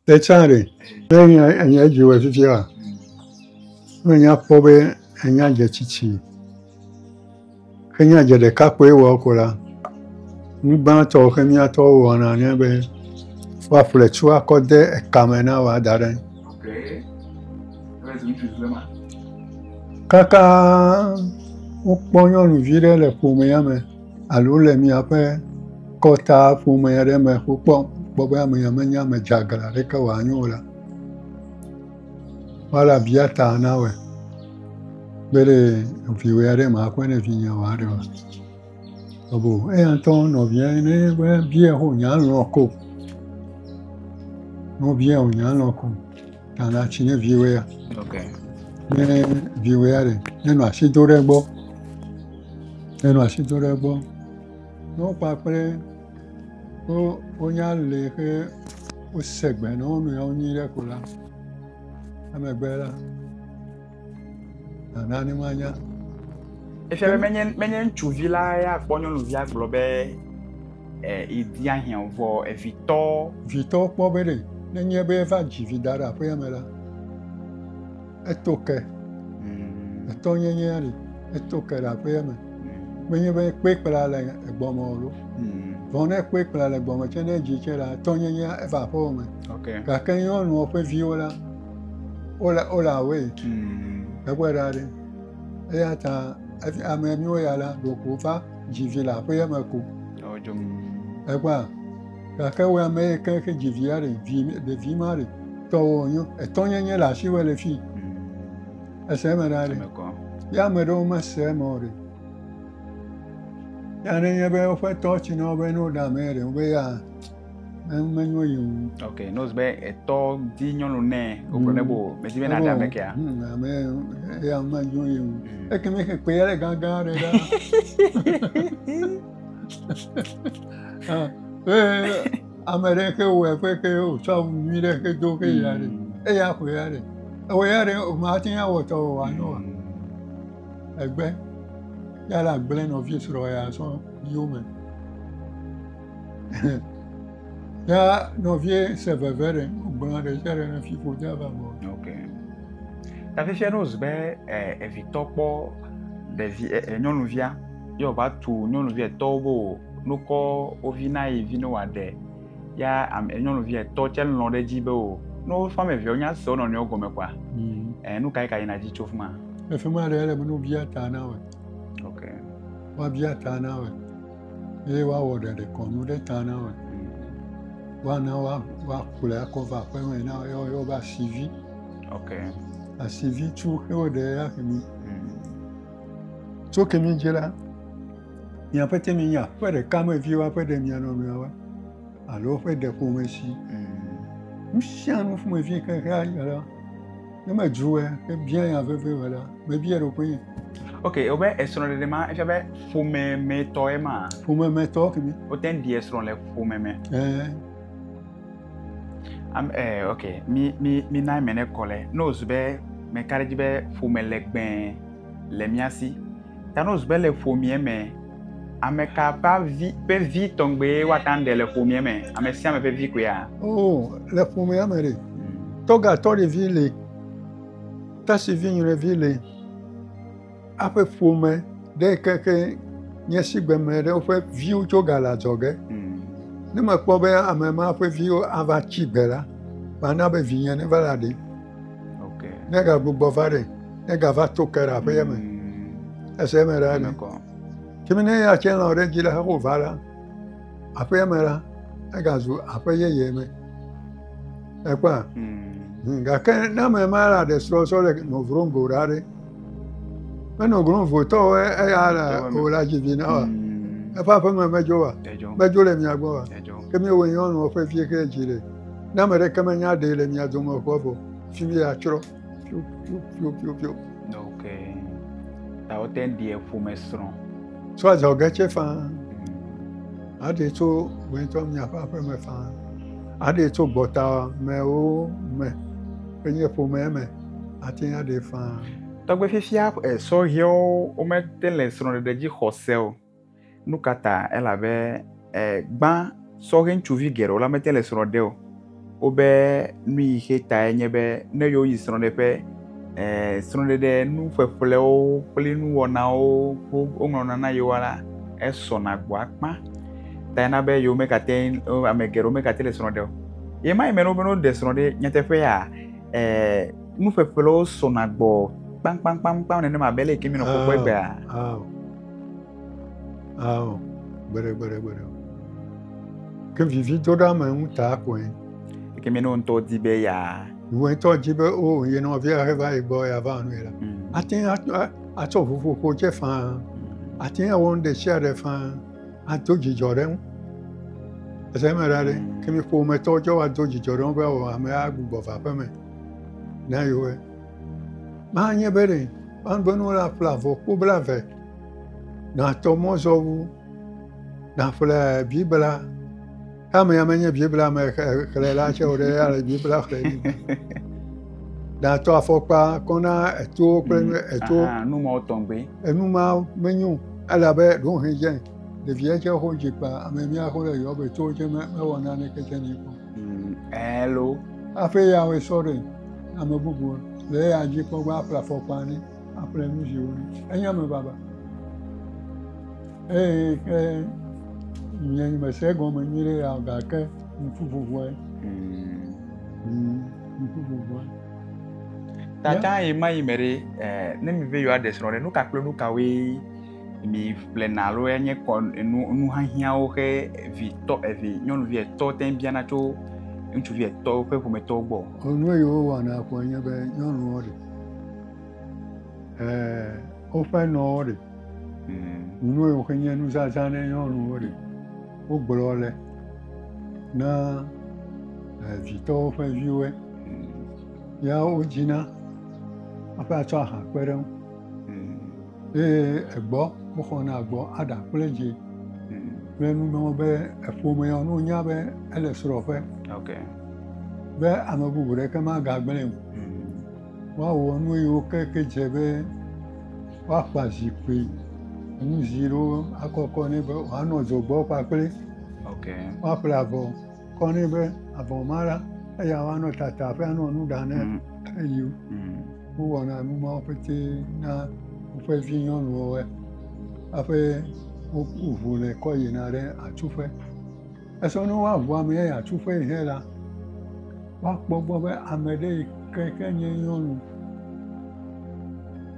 Tetsã ɖe, ne nya enya edzi wɔe fifia, ne nya kpɔ be enya dze tsitsi, ke nya dze ɖeka kpɔe wɔ ko la, nugbãtɔ ke miatɔwo wɔna nye be, woaƒle tsua kɔ de eka me na woa da ɖe. Kaka wokpɔ nyɔnuvi ɖe le ƒomea me. alo le miaƒe kɔtaa ƒome aɖe me ƒo kpɔ, kpɔ be amea menye ame dzeagle aɖeke wòanye o la, woale abiata nawɔe be ɖe viwò ya ɖe maƒe ne vinye wòa ɖe oa? Abo eya ŋutɔ nɔvia ne be biae ho nyalɔ̃ ko. Ne wobia wò nyalɔ̃ ko. Nana tsi ne viwɛ ya. Ok. Ne viwɛ ya ɖe, nenɔ asi do ɖe egbɔ. Nenɔ asi do ɖe egbɔ. Ne wokpakple wo wonya le xe wose gbe ne wo nɔewo nyuie ɖe ko la, emegbe la. Nana ne manya. Efia be menye menye ŋutsuvi la ya kpɔ nyɔnuvia gblɔ be ìdia eh, hiã vɔ evitɔ. Eh, vitɔ kpɔ be ɖe nenye be eva dzi vi da ɖe aƒea me la, eto ke. Hmm. Etɔ nyenye ɖe eto ke ɖe aƒea me. Hmm. Menye be kpe kpla le egbɔme o ɖo. Hmm. Vɔ ne kpe kpla le gbɔme tsɛ ne edzi tsɛ la, etɔ nyenye eva aƒewo me. Gake nyɔnua ƒe viwo la, Wola wola awoe tu gbegbe ɖa ɖe. Eya ta esi ame miwo ya la ɖeko va dzi vi le aƒea me ko. Ekpɔa gake wo ame yi ke xe dzi via ɖe vi ɖevi ma ɖe tɔwɔ nyo etɔnyenye le asiwɔ le fi. Ese eme ɖa ɖe. Ye ame ɖewo mese eme o ɖe. Ya ne nye be woƒe tɔ tsi na wo be ne woɖe ame ɖe wo be ya. menyo yim. ok n'ose be etɔ di nyɔnu nɛ wogblɔ ne bo mesi be nada me kea. ame eya menyo yim eke mi xe kpe yɛrɛ gangan ɖe ɖa. ame ɖe xe wɔ eƒe xe wotsɔ awu nyui ɖe xe do xe ya ɖe eya ƒo ya ɖe ewɔ ya ɖe o mate ŋu awɔ tɔ o anyo wa egbe ya la gblẽ nɔvi srɔ̃ ya sɔ yiwo me. Ya nɔvie se veve ɖe gblɔna ɖe sia ɖe ne fiƒo de ava gbɔ. Ok. Ta fifia ne wòzu be evitɔ kpɔ ɖevi nyɔnuvia ye wòva tu nyɔnuvi etɔwo be wò nukɔ wo vi na yi vi ne wòaɖe ya nyɔnuvi etɔ tsɛ lɔ ɖe edzi be wò ne woƒe ame eveawo nya se wo nɔnɔewo gɔme kɔa mm. nu kae ka yina dzi tso fi ma. Le fi ma ɖe ele be ne wobia ta na wɔ. Ok. Woabia ta na wɔ. Ye woawɔ ɖeɖekɔnu ɖe ta na wòa? Woana woakplɔe akɔ va aƒeme na wo, ye woayɔ be asivi. Ok. Asivi tso xe woɖe ya kemi. Hmm. Tso kemi dzi la, miaƒe te mi nye aƒe ɖeka me viwo aƒe ɖe mia nɔnɔewo. alo eƒe ɖe ƒome si. Mm. Nu sia nu ƒomevi xexea ya la, ne medzroe ke bia ya veve o la, mebia ɖokuinye. Ok, wobe esrɔ̃ɖeɖe ma efia be ƒomemɛtɔ ye ma. Ƒomemɛtɔ kemi. Wote ŋu ɖi esrɔ̃ le ƒomeme. Ɛɛ. Am ɛɛ ok, mi mi mi na eme ne kɔ le. Ne wozu be meka ɖe edzi be ƒome legbee le mía si. Ta ne wozu be le ƒomea me Ame ka ƒe avi ƒe vi tɔgbeae woate ŋu aɖe le ƒomea me? Ame sia ame ƒe vi koea? O, le ƒomea me ɖe. Tɔgatɔɖevi li, tasivinyɔnuvi li. Eƒe ƒome ɖe keke nye esigbe ame aɖewo ƒe viwo tso ga le adzɔge. Ne mekpɔ be ame ma ƒe viwo ava tsi gbe la, mana be vinye neva la ɖee. Okay. Ne ga gbogbo va ɖe, ne ga va to ke ɖe aƒe yeme. Mm. Ese yeme ɖe ne. Kimi ne ya tse lɔ ɖe dzi ɖe heko va ɖe aƒe yeme ɖe, ega zu aƒe yeye me. Ekpɔa. Mm. Gake ne ame ma la ɖe srɔ̃ srɔ̃ le nɔvrom go ɖa ɖe. Menɔ grom votɔwo eya le o la dzi vi na wa. Mm. Eƒe aƒeme medzo wa. Medzo le mia gbɔ wa. Ke mi wo nyɔnu ƒe vie ke dzi le. Ne ame ɖeke menya ɖee le mia dome ʋua vɔ, fi mi atsrɔ̃ piopiopiopio. Ok. Ta wote ŋu ɖie ƒome srɔ̃. Tso adzɔge tse faa. Mm. Aɖee tso wòŋutɔ miaƒe aƒeme faa. Aɖee tso gbɔta mewo me. Enye ƒomea me. Ate ŋu aɖee faa. Tɔgbe fifia eh, sɔhɛwo womete le srɔ̃ɖeɖe dzi xɔse o. Nu ka ta? Elabe e, gbã sɔhɛ ŋutsuvi geɖewo la mete le srɔ̃ ɖe o. Wobe nu yi xe tae nye be ne yewoyi srɔ̃ɖeƒe e, srɔ̃ɖeɖe nu ƒeƒlewo kple nuwɔnawo ko woŋlɔna na yewoa la, esɔna gbɔ akpa. Tae na be yewo megate ame geɖewo megate le srɔ̃ ɖe o. Ye ma yi me na wobe ne woɖe srɔ̃ ɖe nyateƒea e, nu ƒeƒlewo sɔna gbɔ kpaŋkpaŋkpaŋkpaŋ nenema abe ale yi ke mienɔ kpɔkpɔ egbea. Ao, gbeɖegbeɖegbeɖe. Ke vividoɖeame ŋuta koe. Ke mi ne wo ŋutɔ di be ya. Wo ŋutɔ di be o oh, ye nɔvia he va yi gbɔ ya va nui la. Mm. Ate ŋu atsɔ ʋuƒoƒo dze faa. Mm. Ate ŋu awɔ nu ɖe sia ɖe faa. Ado dzidzɔ ɖe ŋu. Ese me ɖa ɖe. Mm. Ke mi ƒometɔ dze woado dzidzɔ ɖe ŋu be o oh, amea agbugbɔ va aƒeme. Na yewo. Manye be ɖe manubenu la ƒle avɔ kpo bla ve, natɔ mɔzɔwu, naƒle Biblia kame ya menye Biblia me xexlẽ la tsɛ o ɖe ale Biblia xlẽ ɖi. Natɔ afɔkpa kɔ na etowo kple mm, etowo. Nu mawo tɔgbe. Enu mawo menyo elabe ɖohedze ɖevia tsɛ xo dzi kpa ame mia xo le yɔbe towo tsɛ mewɔ naneke tsɛ nɛ kpɔ. Mm, hello. Aƒe ya we sɔre ame bubu le ya dzi kpɔ gba aƒle afɔkpa ne aƒle nu ziwo ne enye ame baba eye ke nye mese gɔme nyui ɖe ya gake ŋku vuvue ŋku vuvue tata yi ma yi me ɖe eh, ne mi ve yewoaɖe srɔ̃ ɖe nu ka kple nu kawoe mi ƒlena alo enye kɔ enu nu hiahiãwo xe evi tɔ evi nyɔnuvi etɔ te biana tso ŋutsuvi etɔ ƒe ƒometɔwo gbɔ. Enu yiwo wɔna koe nye be nyɔnuwo ɖe e woƒe nɔwo ɖe hmm. nu yiwo xe nye nuzazã ne nyɔnuwo ɖe wogblɔ le na evitɔwo ƒe viwoe hmm. ya wodzina aƒe atsɔ aha kpe ɖe ŋu. Eye egbɔ woxɔna gbɔ aɖa kple dzi kple nu mawo be eƒomea ne wonya be ele srɔ̃ƒe be ame bubu ɖeke magagblẽ o. Woawɔ nu yi woke ke dze be woakpa zikpui nu zi ɖewo akɔkɔ nɛ be wòanɔ dzogbɔ kpakple woaƒle avɔ. kɔ nɛ be avɔ ma la eya woanɔ tata ƒe anɔ nu ɖa ne mm. eyi mm. wowɔna nu mawo pete na woƒe vi nyɔnuwo aƒe woʋu le kɔ yina ɖe atsuƒe esɔ ne woaʋu ame ya atsuƒe yi hɛ la woakpɔ gbɔ be ame ɖe yi ke ke nye nyɔnu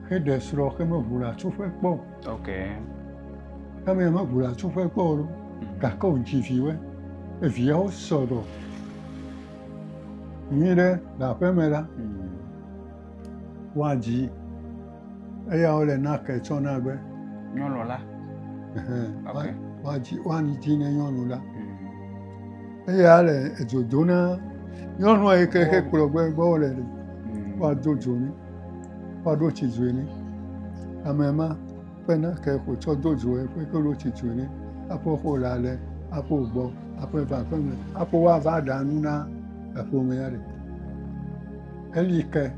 xe ɖe srɔ̃ xe meʋu le atsuƒe kpɔ o Ok. Ame ya meʋu le atsuƒe kpɔ o ɖo. Hmm. Gake wòdzi viwoe. Eviawo sɔ ɖɔ. Nyui ɖe le aƒeme la, hmm. woadzi eya wole nake tsɔ na be nyɔnu la woadzi woanidzi ne nyɔnu la hmm. eya le edzo do na nyɔnua yi ke ke kplɔ gbɔ gbɔ wole hmm. woado dzo ne. woaɖo tsi dzoe nɛ. Ame ma ƒe nake wòtsɔ do dzoe ƒe ke ɖo tsi dzoe nɛ. Aƒe xo le ale, aƒe gbɔ, aƒe va aƒeme, aƒe woava ɖa nu na eƒomea ɖe. Eli ke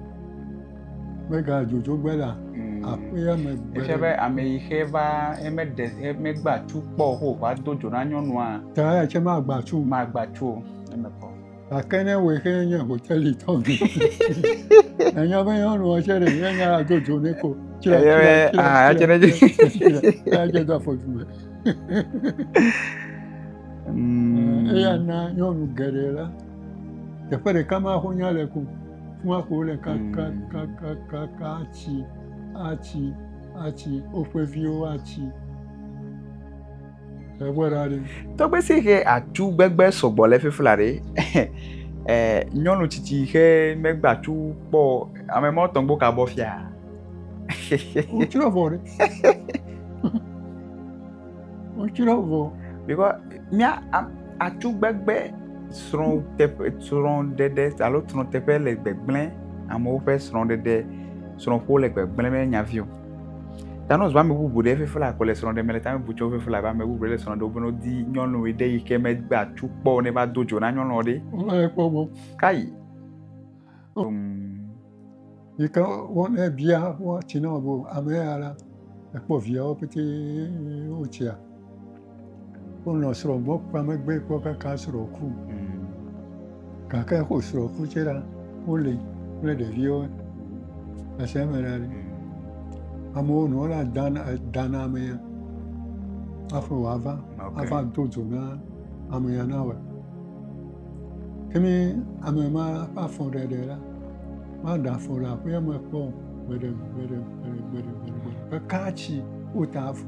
megadzodzo gbe la aƒea me gbe. Efia be ame yi xe va ye meɖe ye megba tu kpɔ o xo wòva do dzo na nyɔnua. Ta ya tse magba tu. Magba tu o. Gake ne wòe xe nye hoteli tɔ gbe. Ènya be nyɔnua tsɛ ɖe ye nya ado dzo ne ko. Tsrɛ tsrɛ tsrɛ ah, tsrɛ tsrɛ tsrɛ do afɔ tume. Mm. Eya na nyɔnu geɖe la teƒe ɖeka ma ko nya le ko kuma ko le kakakakakaka mm. atsi atsi atsi woƒe viwo atsi. Tɔgbe si xe atu gbegbe sɔgbɔ le fifla ɖe, eh, nyɔnu tsitsi xe megbe atu kpɔ ame mɔ tɔgbo ka bɔ fia. Wotsrɔ vɔ ɖe. Wotsrɔ vɔ. Because mía atu gbegbe srɔ̃ teƒe srɔ̃ ɖeɖe alo srɔ̃ teƒe le gbegblẽ amewo ƒe srɔ̃ɖeɖe srɔ̃ƒo le gbegblẽ menye nyavi o. Tanos ƒe ame bubu ɖe eƒe fla ko le srɔ̃ ɖem le ta bubu tsɔ eƒe fla be ame bubu ɖe le srɔ̃ ɖem beno di nyɔnu ɖe yi ke megbe atu kpɔ ne va do dzo na nyɔnu ɖe. Wova ye kpɔ gbɔ. Kai. Yi ke wo ne bia wo tsi na wo ame ya la ekpɔ viawo pete wo tsia. Wonɔ srɔ̃ gbɔ kpea megbe kpɔ kaka srɔ̃ ku. Gake xo srɔ̃ ku tse ɖa, woli kple ɖeviwo le asia me ɖa. Amewo nɔ la dan dan amea hafi wòava ava do dzo na amea na wɔ. Ke ne ame ma ƒe afɔ ɖe ɖe la, maɖe afɔ le aƒea me kpɔ o. Gbeɖe gbeɖe gbeɖe gbeɖe gbeɖe gbeɖe. Ɖeka tsi wota afɔ.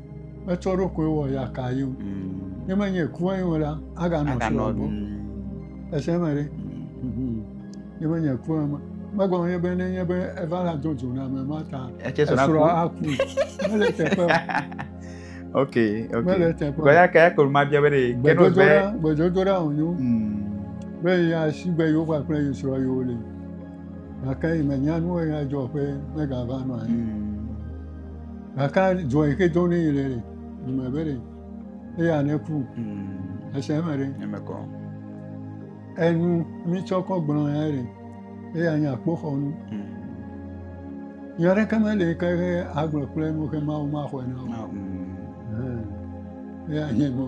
metsɔ eɖokui wɔ yaka ye o mm. ne menye kua ye o la aganɔ srɔ̃ gbɔ ese me ɖe ne menye kua me megɔme ye be nenye be eva la do dzo na ame ma ta esrɔ̃ aku mele teƒe o ok ok mele teƒe o kɔya kɔya kɔlu ma bia be de gbedodo la gbedodo la o nyo mm. be ya si be yewo kpakple yesrɔ̃ yewo le. Gake mènya nu ɣe adzɔ ƒe megava nɔ anyi. Gake adzɔ yi ke dzɔ ne yi le ɖe, dume be ɖe, eya ne ku. Ese eme ɖe. Emekɔ. Enu mi tsɔ kɔ gblɔ ya ɖe, eya nye akpoxɔnu. Nya ɖeke mele yi ke agblɔ kple nu ke Mawu maxɔe na o. Eya nye mɔ.